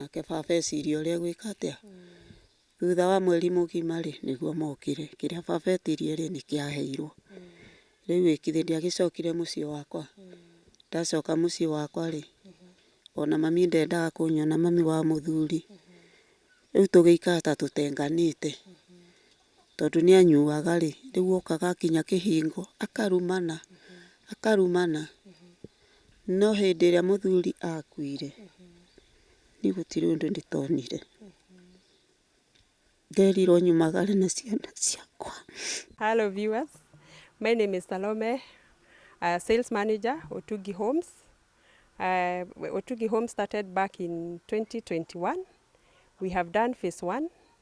nake baba eciria ũrĩa egwĩka atĩa. Thutha wa mweri mũgima rĩ, nĩguo mokire. Kĩrĩa baba etirie rĩ, nĩ kĩaheirwo. Rĩu ĩ githĩ ndiagĩcokire mũciĩ wakwa? Ndacoka mũciĩ wakwa rĩ, ona mami ndendaga kũnyona, mami wa mũthuri. Rĩu tũgĩikara ta tũtenganĩte. tondũ nĩ anyuaga rĩ, rĩu okaga akinya kĩhingo akarumana, akarumana. No hĩndĩ ĩrĩa mũthuri akuire, niĩ gũtirĩ ũndũ ndĩtonire. Nderirwo nyumagare na ciana ciakwa. Hello viewers, my name is Salome, uh, sales manager Otugi Homes. Uh, Otugi Homes started back in 2021. We have done phase one,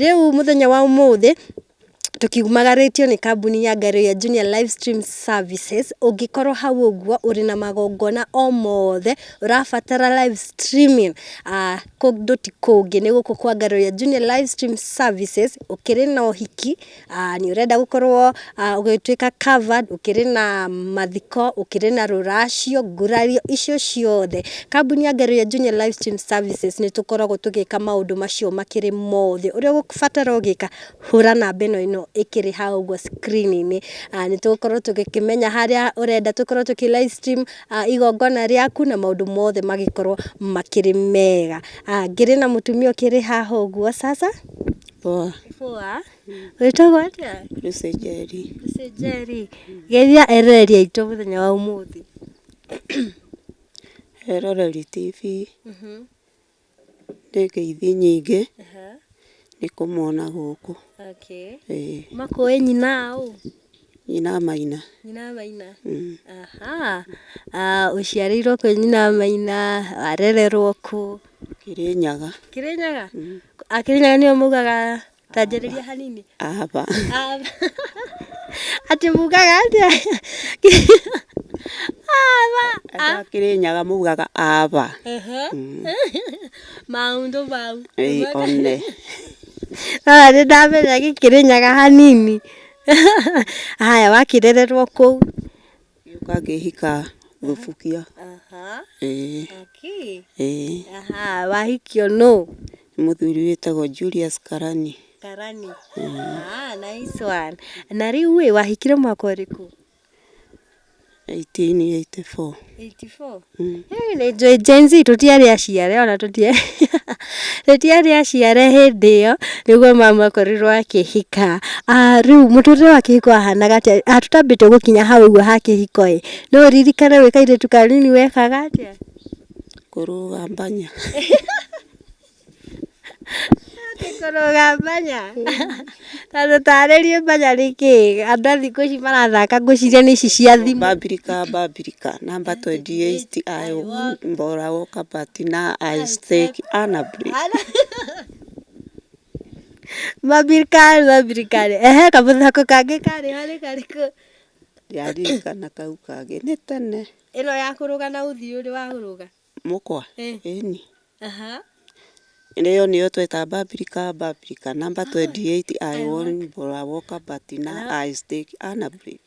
Rĩu mũthenya wa ũmũthĩ tũkiumagarĩtio nĩ kambuni ya Ngario ya Junior Live Stream Services, ũngĩkorwo hau ũguo ũrĩ na magongona o mothe ũrabatara live streaming kũndũ ti kũngĩ nĩ gũkũ kwa Ngario ya Junior Live Stream Services, ũkĩrĩ na ũhiki, Aa nĩ ũrenda gũkorwo ũgĩtuĩka covered, ũkĩrĩ na mathiko, ũkĩrĩ na rũracio, ngurario icio ciothe. Kambuni ya Ngario Engineer Live Stream Services nĩ tũkoragwo tũgĩka maũndũ macio makĩrĩ mothe. Ũrĩa ũgũbatara o gwĩka, hũra namba ĩno ĩno ĩkĩrĩ hau ũguo screen -inĩ. Aa nĩ tũgũkorwo tũgĩkĩmenya harĩa ũrenda tũkorwo tũkĩ live stream igongona rĩaku na maũndũ mothe magĩkorwo makĩrĩ mega. Aa ngĩrĩ na mũtumia ũkĩrĩ haha ũguo sasa. Poa. Poa. Wĩtagwo atĩa? Lucy Njeri. Lucy Njeri. Geithia eroreria itũ mũthenya wa ũmũthĩ. Eroreri TV. Mhm. Ndĩ ngeithi nyingĩ. Aha. Nĩ kũmona gũkũ. Okay. Ĩĩ. Makũĩ nyina ũ? Nyina Maina. Nyina Maina. Ahaa. Ũciarĩirwo kwĩ nyina Maina, warererwo kũ? Kĩrĩnyaga. Kĩrĩnyaga? A Kĩrĩnyaga nĩo maugaga ta njarĩria hanini. Ava. Ava. Atĩ mugaga atĩa? Ava. Andũ a Kĩrĩnyaga maugaga ava. Maũndũ mau. Ĩĩ one. Nĩ ndamenya gĩkĩrĩnyaga hanini. Haya wakĩrererwo kũu gĩũka ngĩhika thubukia. Ĩĩ. Ĩĩ. Wahikio nũ? Mũthuri wĩtagwo Julius Karani. Karani. Ah, nice one. Na rĩu ĩ wahikire mwaka ũrĩkũ? 1884. 84? Mm. Hey, nĩ njũĩ Gen Z tũtiarĩ aciare ona tũtiarĩ tũtiarĩ aciare hĩndĩ ĩyo nĩguo mama akorirwo akĩhika Ah, rĩu mũtũrĩre wa kĩhiko wahanaga atĩa Ah, tũtambĩte gũkinya hau ũguo ha kĩhiko ĩ no ũririkane wĩ kairĩtu kanini wekaga atĩa Kũrũgambania. Atĩ kũrũga mbanya? Na ndũtarĩrie mbanya nĩ kĩĩ? Andũ a thikũ ici marathaka ngwĩciria nĩ ici cia thimũ. Mbambirika Mbambirika namba twendi ĩiti aĩ mbora wo kabati na aĩ stĩki ana break. Mbambirika Mbambirika rĩ, ehe kamũthako kangĩ karĩ ho nĩ karĩkũ? Ndiaririkana kau kangĩ nĩ tene. Ĩno ya kũrũga na ũthiũrĩ wa kũrũga. mũkwa ĩni ĩyo nĩyo tweta babirika babirika namba 28 I want bora woka batina I stick ana break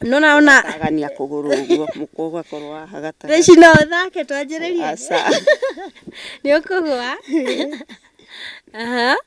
nona ona agania kũgũrũ ũguo mũkwa ũgakorwo haha gatagatĩ rĩci no ũthake twanjĩrĩrie nĩ ũkũgwa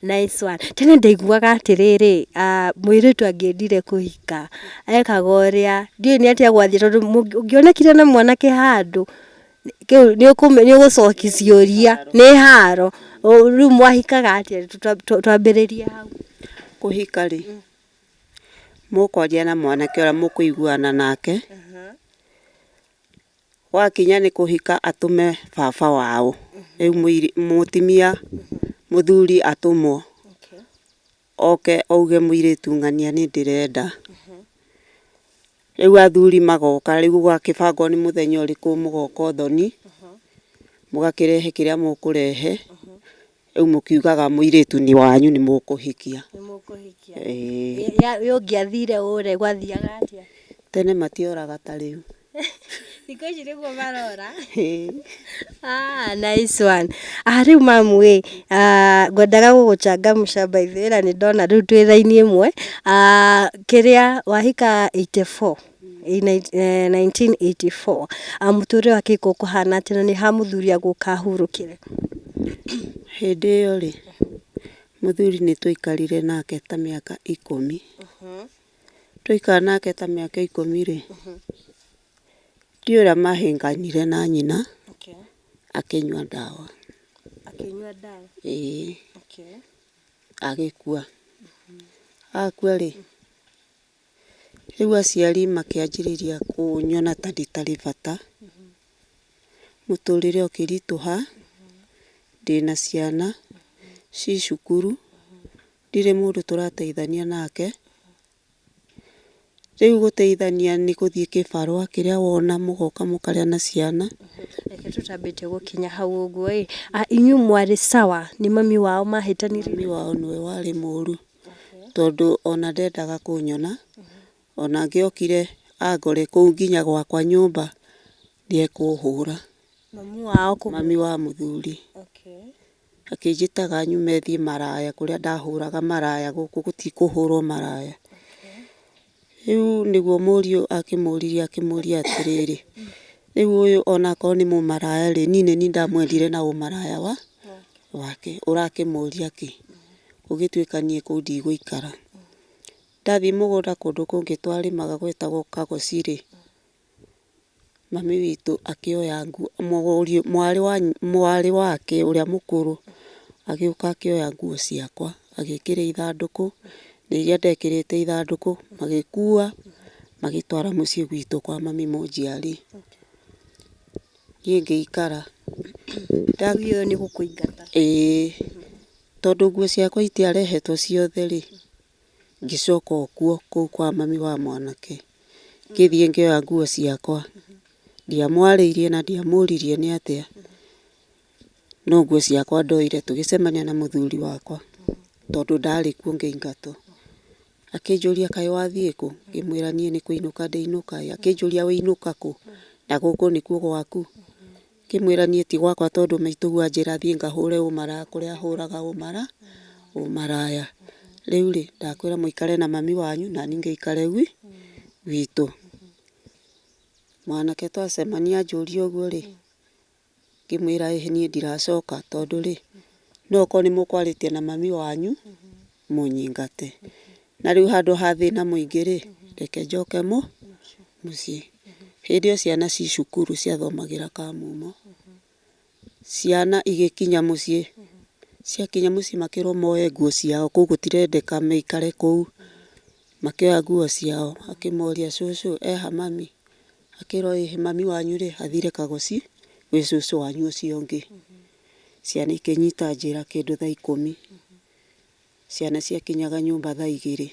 Nice one. Tene ndaiguaga atĩrĩrĩ, mũirĩtu angĩendire kũhika, ekaga ũrĩa, ndiũĩ nĩ atĩa gwathiĩ tondũ ũngĩonekire na mwanake handũ, nĩ ũgũcoki ciũria, nĩ haro. Rĩu mwahikaga atĩa? Twambĩrĩrie hau. Kũhika rĩ, mũkwaria na mwanake ũrĩa mũkũiguana nake. Wakinya nĩ kũhika atũme baba wao, rĩu mũtumia mũthuri atũmwo oke auge mũirĩtu ng'ania nĩ ndĩrenda. Rĩu athuri magoka, rĩu gũgakĩbangwo nĩ mũthenya ũrĩkũ mũgoka ũthoni, mũgakĩrehe kĩrĩa mũkũrehe. Rĩu mũkiugaga mũirĩtu nĩ wanyu nĩ mũkũhikia. Nĩ mũkũhikia. Ĩĩ. Rĩrĩa ũngĩathire ũũ rĩ, gwathiaga atĩa? Tene matioraga ta rĩu. Thikũ ici nĩguo marora. Ĩĩ. Ah, nice one. Ah, rĩu mamu ĩ, ah, ngwendaga gũgũcangamsha by the way na nĩ ndona rĩu twĩ raini ĩmwe. Ah, kĩrĩa wahika eighty four? 1984, mũtũrĩre wake ũgĩkorwo ũkũhana atĩa na nĩ ha mũthuri agũka ahurũkĩre? Hĩndĩ ĩyo rĩ, mũthuri nĩ twaikarire nake ta mĩaka ikũmi. Twaikara nake ta mĩaka ikũmi rĩ, ndiũĩ ũrĩa mahĩnganire na nyina, akĩnyua ndawa. Ĩĩ. Agĩkua. Akua rĩ, Rĩu aciari makĩanjĩrĩria kũnyona ta itarĩ bata, mũtũrĩre ũkĩritũha, ndĩna ciana ci cukuru, ndirĩ mũndũ tũrateithania nake. Rĩu gũteithania nĩ gũthiĩ kĩbarũa kĩrĩa wona mũgoka mũkarĩa na ciana. Reke tũtambĩte gũkinya hau ũguo ĩ, inyuĩ mwarĩ sawa nĩ mami wao mahĩtanirie? Mami wao nĩwe warĩ mũru. tondũ ona ndendaga kũnyona. Ona angĩokire angore kũu nginya gwakwa nyũmba nĩekũhũra. Mami wa mũthuri. Akĩnjĩtaga nyume thiĩ maraya kũrĩa ndahũraga maraya gũkũ gũtikũhũrwo maraya. Rĩu nĩguo mũriũ akĩmũririe akĩmũria atĩrĩrĩ, rĩu ũyũ onakorwo nĩ mũmaraya rĩ, niĩ nĩ niĩ ndamwendire na ũmaraya wa wake, ũrakĩmũria kĩ? Gũgĩtuĩka niĩ kũu ndigũikara. Ndathiĩ mũgũnda kũndũ kũngĩ twarĩmaga gwetagwo Kagoci rĩ, Mami witũ akĩoya nguo, mũriũ, mwarĩ wa, mwarĩ wake ũrĩa mũkũrũ, agĩũka akĩoya nguo ciakwa, agĩkĩra ithandũkũ, na iria ndekĩrĩte ithandũkũ, magĩkuua, magĩtwara mũciĩ gwitũ kwa mami mũnjiari. Niĩ ngĩikara. Ndagiire nĩ gũkũingata. Ĩĩ. Tondũ nguo ciakwa itiarehetwo ciothe rĩ. Ngĩcoka o kuo kũu kwa mami wa mwanake, ngĩthiĩ ngĩoya nguo ciakwa. Ndiamwarĩirie na ndiamũririe nĩ atĩa, no nguo ciakwa ndoire tũgĩcemania na mũthuri wakwa tondũ ndarĩ kuo ngĩingatwo. Akĩnjũria kaĩ wathiĩ kũ? Ngĩmwĩra niĩ nĩ kũinũka ndĩinũka. Akĩnjũria ũinũka kũ? Na gũkũ nĩkuo gwaku? Ngĩmwĩra niĩ ti gwakwa tondũ maitũguo anjĩra thiĩ ngahũre ũmaraya kũrĩa hũraga ũmara, ũmaraya. Rĩu rĩ, ndakwĩra mũikare na mami wanyu nani ngĩikare gwi, gwitũ. Mwanake twacemania anjũria ũguo rĩ, ngĩmwĩra ĩhĩ niĩ ndiracoka tondũ rĩ, no okorwo nĩ mũkwarĩtie na mami wanyu, mũnyingate. Na rĩu handũ ha thĩna mũingĩ-rĩ, reke njoke mũ, mũciĩ. Hĩndĩ ĩyo ciana ci cukuru ciathomagĩra Kamũmũ. Ciana igĩkinya mũciĩ, ciakinya mũciĩ makĩrwo moe nguo ciao, kũu gũtirendeka maikare kũu. Makĩoya nguo ciao, akĩmoria, cũcũ e ha mami? Akĩrwo ĩ, mami wanyu-rĩ, athire Kagoci gwĩ cũcũ wanyu ũcio ũngĩ. Ciana ikĩnyita njĩra kĩndũ thaa ikũmi. Ciana ciakinyaga nyũmba thaa igĩrĩ,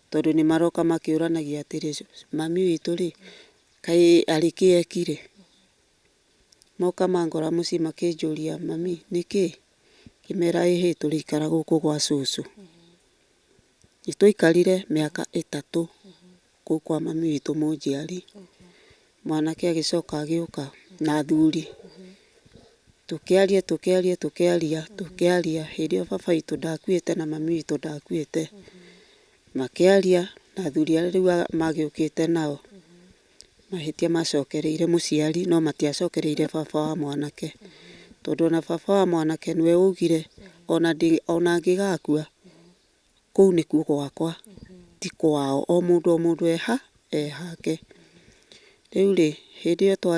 tondũ nĩ maroka makĩũranagia atĩrĩ, mami witũ rĩ, kaĩ arĩ kĩ ekire? Moka mangora mũciĩ makĩnjũria, mami nĩ kĩ? Ngĩmera ĩ hĩ tũrĩikara gũkũ gwa cũcũ. Nĩ twaikarire mĩaka ĩtatũ. kũu kwa mami witũ mũnjiari, mwanake agĩcoka agĩũka na athuri, tũkĩaria tũkĩaria tũkĩaria tũkĩaria, hĩndĩ ĩyo baba witũ ndakuĩte na mami witũ ndakuĩte, makĩaria na athuri arĩa rĩu magĩũkĩte nao, mahĩtia macokereire mũciari no matiacokereire baba wa mwanake, tondũ ona baba wa mwanake nĩwe waugire ona ndĩ ona angĩgakua, kũu nĩkuo gwakwa, ti kwao. O mũndũ o mũndũ eha, ehake. Rĩu rĩ, hĩndĩ ĩyo twa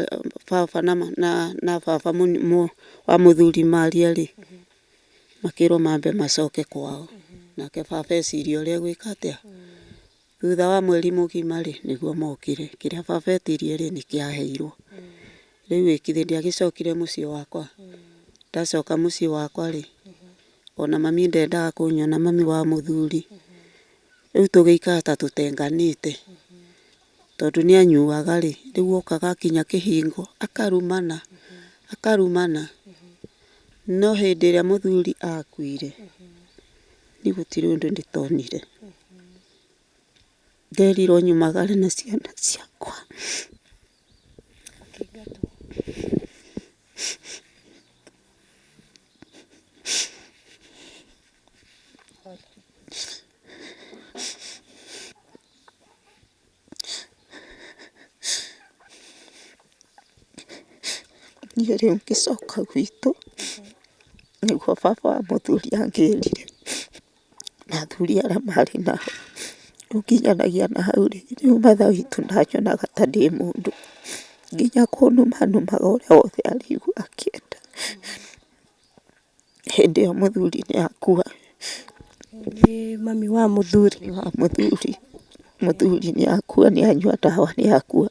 baba na na na baba wa mũthuri maria rĩ, makĩrwo mambe macoke kwao. Nake baba eciria ũrĩa egwĩka atĩa? Thutha wa mweri mũgima rĩ, nĩguo mokire. Kĩrĩa baba etirie rĩ, nĩ kĩaheirwo. Rĩu ĩ kithĩ ndiagĩcokire mũciĩ wakwa? Ndacoka mũciĩ wakwa rĩ, ona mami ndendaga kũnyona, mami wa mũthuri. Rĩu tũgĩikara ta tũtenganĩte, tondũ nĩ anyuaga rĩ, rĩu okaga akinya kĩhingo akarumana, akarumana. No hĩndĩ ĩrĩa mũthuri akuire, Niĩ gũtirĩ ũndũ ndĩtonire, nderirwo nyumagare na ciana ciakwa. Niĩ rĩu ngĩcoka gwitũ, nĩguo baba wa mũthuri angĩrire, na athuri arĩa marĩ nao, ũkĩnyanagĩa na hau rĩ, rĩu mother witũ ndanyonaga ta ndĩ mũndũ, nginya kũnuma numaga ũrĩa wothe araigua akĩenda. hĩndĩ ĩyo mũthuri nĩ akua. Nĩ mami wa mũthuri. Mami wa mũthuri. Mũthuri nĩ akua nĩ anyua ndawa nĩ akua.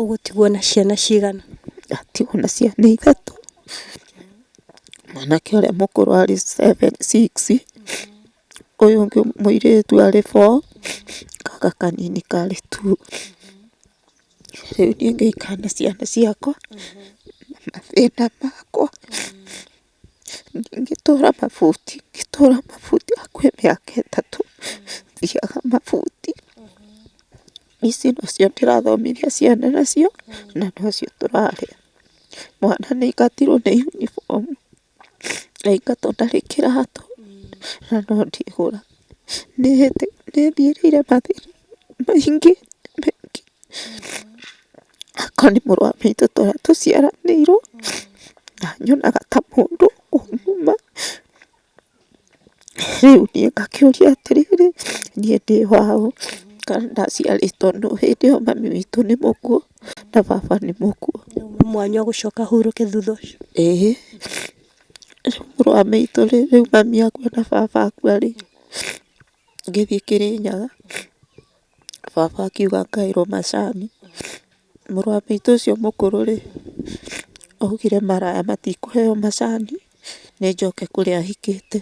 Ũgũtigwo na ciana cigana? Ndatigwo na ciana ithatũ. Mwanake ũrĩa mũkũrũ arĩ seven, six, ũyũ ũngĩ mũirĩtu arĩ four, gaka kanini karĩ two. Rĩu niĩ ngaikara na ciana ciakwa na mathĩna makwa, ngĩtũra mabuti, ngĩtũra mabuti hakuhĩ mĩaka ĩtatũ thiaga mabuti. Ici nacio ndĩrathomithia ciana nacio na nocio tũrarĩa. Mwana nĩ aingatirwo nĩ yunibomu. Aingatwo ndarĩ kĩratũ na no ndĩhũra. Nĩ thiĩrĩire mathĩna maingĩ maingĩ. Hakwa nĩ mũrũ wa maitũ tũrĩa tũciaranĩirwo na nyonaga ta mũndũ kũmũma. Rĩu niĩ ngakĩũria atĩrĩrĩ, niĩ ndĩ waũ kana ndaciarĩtwo nũ? Hĩndĩ ĩyo mami witũ nĩ mũkuũ na baba nĩ mũkuũ. Nĩ mwanya ũgũcoka ũhurũke thutha ũcio. Ĩĩ. Rĩu mũrũ wa maitũ rĩ, rĩu mami akua na baba akua rĩ, ngĩthiĩ Kĩrĩnyaga, baba akiuga ngaĩrwo macani. Mũrũ wa maitũ ũcio mũkũrũ-rĩ, augire maraya matikũheo macani, nĩ njoke kũrĩa ahikĩte.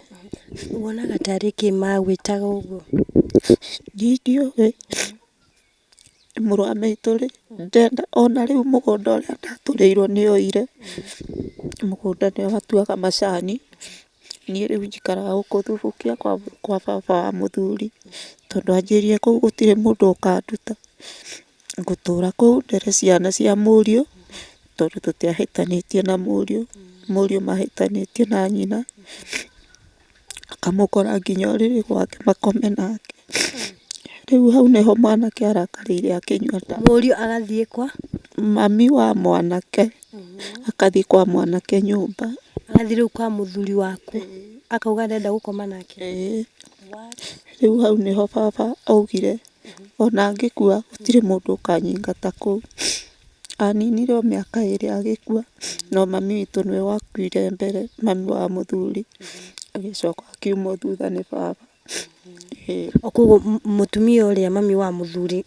Wonaga tarĩ kĩ magwĩtaga ũguo? Niĩ ndiũĩ. Mũrũ wa maitũ-rĩ, ndenda ona rĩu mũgũnda ũrĩa ndatũrĩirwo nĩoire, mũgũnda nĩo atuaga macani. Niĩ rĩu njikaraga gũkũ Thubukia kwa baba wa mũthuri, tondũ anjĩrire kũu gũtirĩ mũndũ ũkanduta. Ngũtũra kũu ndere ciana cia mũriũ, tondũ tũtiahĩtanĩtie na mũriũ. Mũriũ mahĩtanĩtie na nyina, akamũkora nginya ũrĩrĩ gwake makome nake. Rĩu hau nĩho mwanake arakarĩire akĩnyua ndawa. Mũriũ agathiĩ kwa? Mami wa mwanake. agathiĩ kwa mwanake nyũmba. Agathiĩ rĩu kwa mũthuri waku akauga arenda gũkoma nake. Rĩu hau nĩho baba augire ona ngĩkua gũtirĩ mũndũ ũkanyingata kũu. Aninire o mĩaka ĩrĩ agĩkua no mami witũ nĩwe wakuire mbere, mami wa mũthuri agĩcoka akiumwo thutha nĩ baba. Koguo mũtumia ũrĩa mami wa mũthuri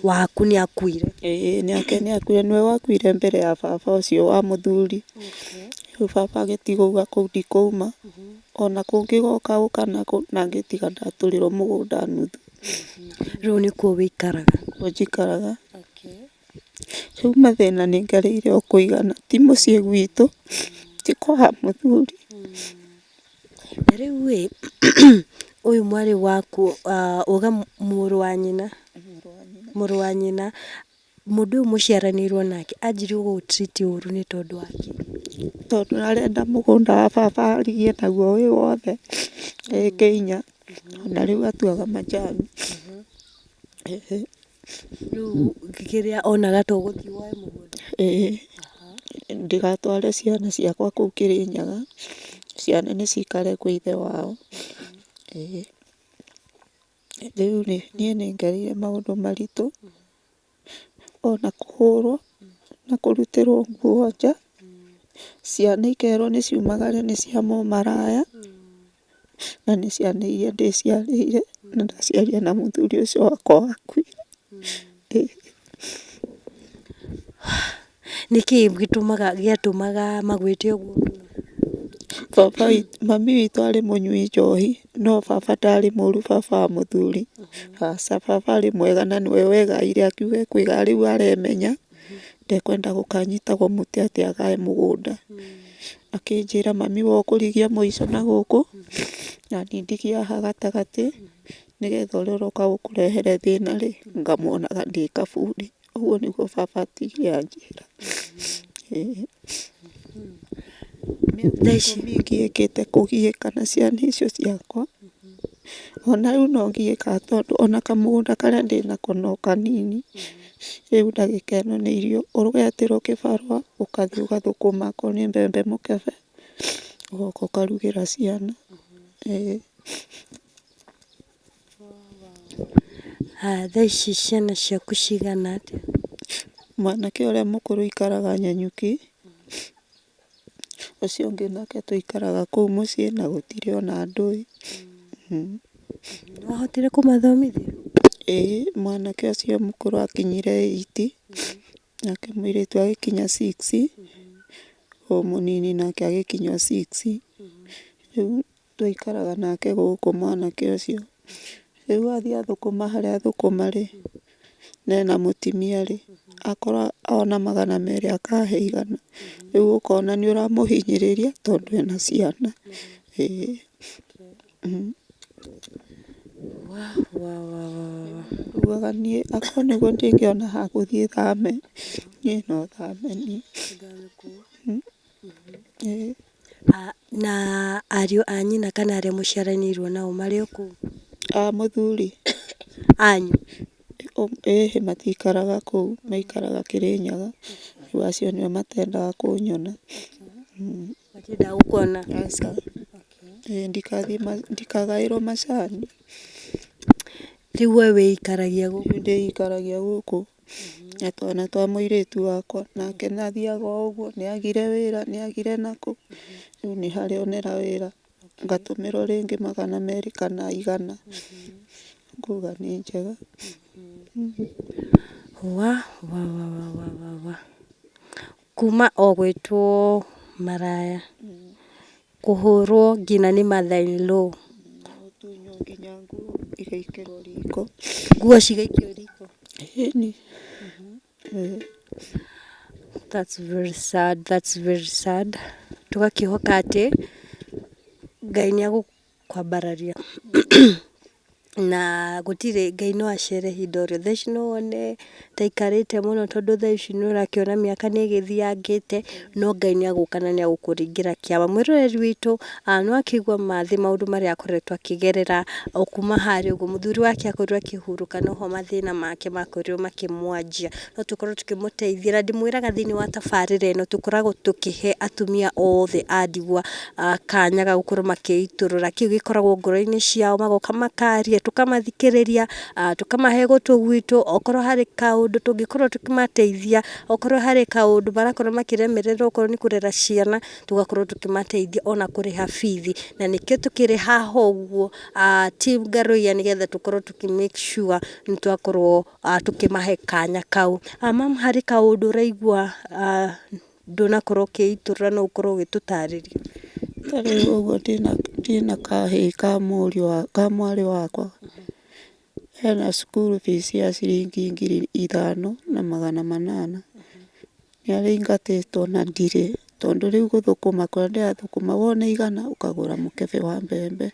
waku nĩ akuire? Ĩĩ nake nĩ akuire, nĩwe wakuire mbere ya baba ũcio wa mũthuri. Rĩu baba agĩtigwo auga kũu ndikũma, ona kũngĩgoka ũka nakũ, na ngĩtiga ndatũrĩrwo mũgũnda nuthu. Rĩu nĩkuo wĩikaraga? Nĩkuo njikaraga. Rĩu mathĩna nĩ ngereire o kũigana, ti mũciĩ gwitũ, ti kwa mũthuri. Na rĩu ĩ, ũyũ mwarĩ waku uga mũrũ wa nyina, mũrũ wa nyina, mũndũ ũyũ mũciaranĩirwo nake anjirie gũgũ treat ũru nĩ tondũ wa kĩ? Tondũ arenda mũgũnda wa baba arigie naguo wĩ wothe, e Kĩinya, na rĩu atuaga majani. Rĩu kĩrĩa onaga to gũthiĩ woe mũgũnda. Ĩĩ ndĩgatware ciana ciakwa kũu Kĩrĩnyaga, ciana nĩ cikare kwĩ ithe wao. Ĩĩ rĩu rĩ niĩ nĩ ngereire maũndũ maritũ, ona kũhũrwo na kũrutĩrwo nguo nja, ciana ikerwo nĩ ciumagare nĩ cia mũmaraya. na nĩ ciana iria ndĩciarĩire na ndaciarire na mũthuri ũcio wakwa wakuire. Nĩkĩ gĩtũmaga gĩatũmaga magwĩte ũguo? Baba witũ, mami witũ arĩ mũnyui njohi, no baba ndarĩ mũru baba wa mũthuri, aca baba arĩ mwega na nĩwe wegaĩire akiuga ekũiga rĩu aremenya. ndekwenda gũkanyitagwo mũtĩ atĩ agae mũgũnda. Akĩnjĩra mami wa ũkũrigia mũico na gũkũ, na niĩ ndigie haha gatagatĩ, nĩgetha ũrĩa ũroka gũkũrehere thĩna rĩ, ngamuonaga ndĩ kaburi. Ũguo nĩguo baba atigire anjĩra. Ĩĩ. Mĩaka ikũmi ngĩkĩte kũgiĩka na ciana icio ciakwa, ona rĩu no ngiĩkaga tondũ ona kamũgũnda karĩa ndĩnako no kanini, Rĩu ndagĩka ĩno nĩ irio ũreterwo kĩbarũa ũgathiĩ ũgathũkũma akorwo nĩ mbembe mũkebe ũgoka ũkarugĩra ciana. Haya thaa ici ciana ciaku cigana atĩa? Mwanake ũrĩa mũkũrũ aikaraga Nanyuki. Ũcio ũngĩ nake tũikaraga kũu mũciĩ na gũtirĩ ona ndũĩ. Nĩwahotire kũmathomithia? Ĩĩ mwanake ũcio mũkũrũ akinyire eight, nake mũirĩtu agĩkinya six, ũyũ mũnini nake agĩkinya o six. Twaikaraga nake gũkũ mwanake ũcio. Rĩu athiĩ athũkũma harĩa athũkũma rĩ, na ena mũtimia rĩ, akora ona magana merĩ akahe igana. Rĩu ũkona nĩ ũramũhinyĩrĩria tondũ ena ciana. Nduaga niĩ akorwo nĩguo ndingĩona ha gũthiĩ thame, niĩ no thame niĩ. Na ariũ a nyina kana arĩa mũciaranĩirwo nao marĩ o kũu? A mũthuri. Anyu? Ĩhĩ matiikaraga kũu, maikaraga Kĩrĩnyaga, rĩu acio nĩo matendaga kũnyona. Matiendaga gũkuona? Aca. Ĩĩ ndikathiĩ, ndikagaĩrwo macani. Rĩu we wĩikaragia gũkũ? Ndĩikaragia gũkũ. na twana twa mũirĩtu wakwa, nake nĩ athiaga o ũguo, nĩ agire wĩra, nĩ agire nakũ, rĩu nĩ harĩ onera wĩra, ngatũmĩrwo rĩngĩ magana merĩ kana igana, ngauga nĩ njega. Wa wa wa wa wa wa wa. Kuma o gwĩtwo maraya, kũhũrwo nginya nĩ mother in law. Gũtunywo nginya nguo igaikĩrwo riko. Nguo cigaikio riko. Ĩni. That's very sad, that's very sad. Tũgakĩhoka atĩ Ngai nĩagũ. kwambararia na gũtirĩ Ngai no acere ihinda o rĩothe. Thaa ici no wone ta aikarĩte mũno tondũ thaa ici nĩ ũrakĩona mĩaka nĩ ĩgĩthiangĩte, no Ngai nĩ agũka na nĩ agũkũringĩra kĩama. Mwĩroreri witũ nĩ wakĩigua ma thĩ maũndũ marĩa akoretwo akĩgerera o kuma harĩa ũguo, mũthuri wake akorirwo akĩhurũka noho mathĩna make makorirwo makĩmwanjia. no tũkorwo tũkĩmũteithia, na ndĩmwĩraga thĩiniĩ wa tabarĩra ĩno tũkoragwo tũkĩhe atumia othe a ndigwa kanya ga gũkorwo magĩitũrũra kĩu gĩkoragwo ngoro-inĩ ciao, magoka makaria, tũkamathikĩrĩria, tũkamahe gũtũ gwitũ, okorwo harĩ kaũndũ tũngĩkorwo tũkĩmateithia, okorwo harĩ kaũndũ marakorwo makĩremererwo okorwo nĩ kũrera ciana, tũgakorwo tũkĩmateithia ona kũrĩha bithi, na nĩkĩo tũkĩrĩ haha ũguo, ti ngarũ iya nĩgetha tũkorwo tũkĩ make sure nĩ twakorwo. uh, tũkĩmahe kanya kau uh, mam harĩ kaũndũ ũraigua uh, ndũnakorwo ũkĩitũra no ũkorwo ũgĩtũtarĩria ta rĩu ũguo ndĩna- ndĩna kahĩĩ ka mũriũ wa- ka mwarĩ wakwa hena cukuru fees ya ciringi ngiri ithano na magana manana nĩarĩingatĩtwo na ndirĩ tondũ rĩu gũthũkũma kũrĩa ndĩrathũkũma wona igana ũkagũra mũkebe wa mbembe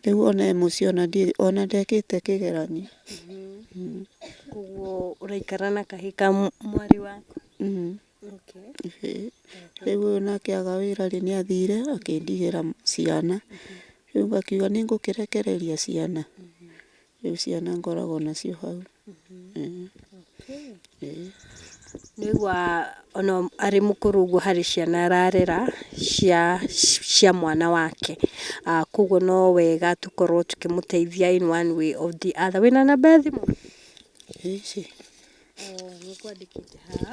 Rĩu ona e mũciĩ ona ndirĩ ona ndekĩte kĩgeranio. Mm. koguo ũraikara na kahĩ ka mw- mwarĩ waku Mm. okay. Ĩhĩ. Rĩu ũyũ nake aga wĩra rĩ nĩ athire akĩndigĩra ciana. Rĩu ngakiuga nĩ ngũkĩrekereria ciana. Rĩu ciana ngoragwo nacio hau. Nĩaigua ona arĩ mũkũrũ ũguo harĩ ciana ararera cia cia mwana wake. Koguo no wega tũkorwo tũkĩmũteithia in one way or the other. Wĩna namba ya thimũ? Nĩngwandĩkĩte haha.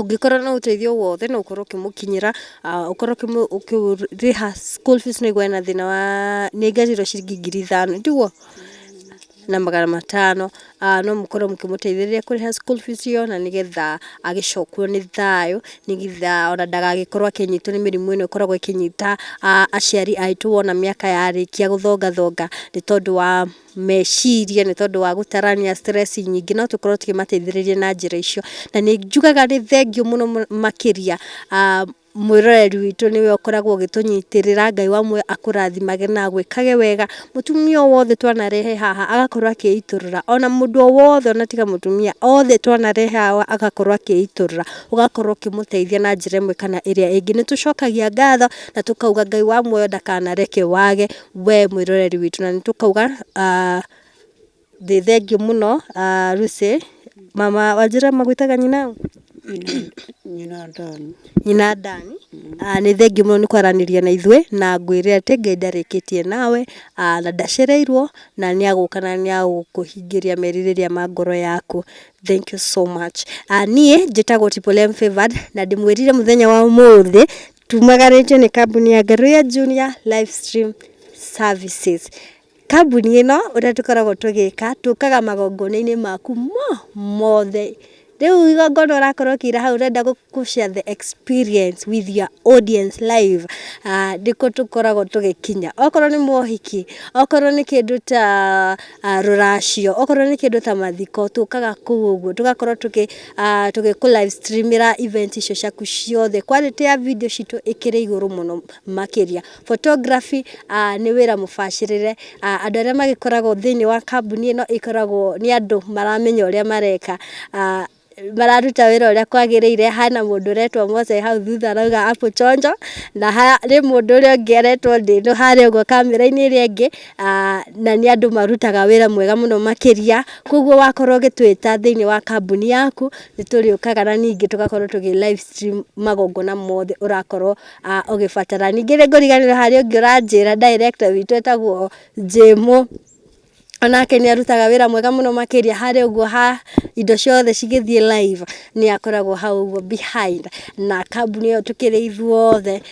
Ũngĩkorwo na ũteithio o wothe no ũkorwo ũkĩmũkinyĩra, ũkorwo ũkĩrĩha school fees nĩ ũgũe na thĩna wa, nĩ ngerĩirwo ciringi ngiri ithano, tiguo? Na magana matano, no mũkorwo mũkĩmũteithĩrĩria kũrĩha school fees ĩyo na nĩgetha agĩcokio nĩ thayũ, nĩgetha ona ndagagĩkorwo akĩnyitwo nĩ mĩrimũ ĩno ĩkoragwo ĩkĩnyita aciari aitũ wona mĩaka yarĩkia gũthongathonga nĩ tondũ wa meciria nĩ tondũ wa gũtarania stress nyingĩ no tũkorwo tũkĩmateithĩrĩria na njĩra icio. Na nĩ njugaga nĩ thengiũ mũno makĩria mwĩroreri witũ nĩwe ũkoragwo ũgĩtũnyitĩrĩra, Ngai wa muoyo akũrathimage na agwĩkage wega. Mũtumia o wothe twanarehe haha agakorwo akĩitũrũra, ona mũndũ o wothe ona tiga mũtumia, othe twanarehe haha agakorwo akĩitũrũra, ũgakorwo ũkĩmũteithia na njĩra ĩmwe kana ĩrĩa ĩngĩ. Nĩ tũcokagia ngatho na tũkauga Ngai wa muoyo ndakanareke wage we mwĩroreri witũ na nĩ tũkauga thĩ thengiũ mũno Lucy, mama wanjĩra magwĩtaga nyina ũ? Nyina Dan. Nyina Dan. Nĩ thengiũ mũno nĩ kwaranĩria na ithuĩ na ngwĩre atĩ Ngai ndarĩkĩtie nawe na ndacereirwo na nĩ agũka na nĩ agũkũhingĩria merirĩria ma ngoro yaku. Thank you so much. Niĩ njĩtagwo Triple M Favoured na ndĩmwĩrire mũthenya wa ũmũthĩ... Tumaganĩtio nĩ kambuni ya Ngaruiya Junior Live Stream Services. Kambuni ĩno ũrĩa tũkoragwo tũgĩka, tũkaga magongona-inĩ maku mothe. Rĩu igongona ũrakorwo ũkĩina hau ũrenda gũ share the experience with your audience live, nĩkuo tũkoragwo tũgĩkinya. Okorwo nĩ mohiki, okorwo nĩ kĩndũ ta rũracio, okorwo nĩ kĩndũ ta mathiko, tũkaga kũu ũguo, tũgakorwo tũkĩ... ah, tũgĩkũ live streamĩra event icio ciaku ciothe quality ya video citũ ĩkĩrĩ igũrũ mũno makĩria photography ah, nĩ wĩra mũbacĩrĩre ah, andũ arĩa magĩkoragwo thĩinĩ wa kambuni ĩno ĩkoragwo nĩ andũ maramenya ũrĩa mareka ah, mararuta wĩra ũrĩa kwagĩrĩire hana mũndũ ũretwo Mose hau thutha arauga apu chonjo na harĩ mũndũ ũrĩa ũngĩ aretwo ndĩno harĩa ũguo kamera-inĩ ĩrĩa ĩngĩ na nĩ andũ marutaga wĩra mwega mũno makĩria, kwoguo wakorwo ũgĩtwĩta thĩinĩ wa kambuni yaku, nĩ tũrĩũkaga na ningĩ tũgakorwo tũgĩ live stream magongona mothe ũrakorwo ũgĩbatara. Ningĩ nĩ ngũriganĩrwo harĩ ũngĩ ũranjĩra, director witũ etagwo Jane, o nake nĩ arutaga wĩra mwega mũno makĩria harĩ ũguo ha indo ciothe cigĩthiĩ live, nĩ akoragwo hau ũguo behind na kambuni ĩyo tũkĩrĩ ithuothe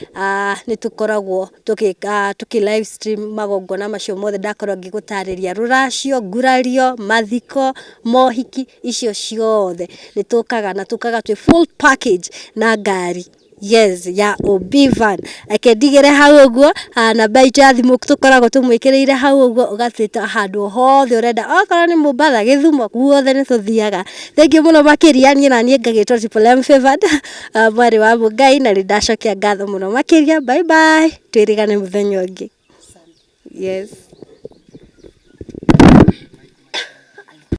nĩ tũkoragwo... tũkĩ live stream magongona macio mothe ndakorwo ngĩgũtarĩria, rũracio, ngurario, mathiko, mohiki, icio ciothe nĩ tũkaga na tũkaga twĩ full package na ngari yes ya OB van. Reke ndigĩre hau ũguo, namba itũ ya thimũ tũkoragwo tũmwĩkĩrĩire hau ũguo, ũgatwĩta handũ o hothe ũrenda, okorwo nĩ Mombatha, Gĩthumo, guothe nĩ tũthiaga. Thengiũ mũno makĩria, niĩ naniĩ ngagĩtwo Triple M Favored Ah, mwarĩ wa mũngai na nĩ ndacokia ngatho mũno makĩria bye bye twĩrĩgane mũthenya ũngĩ yes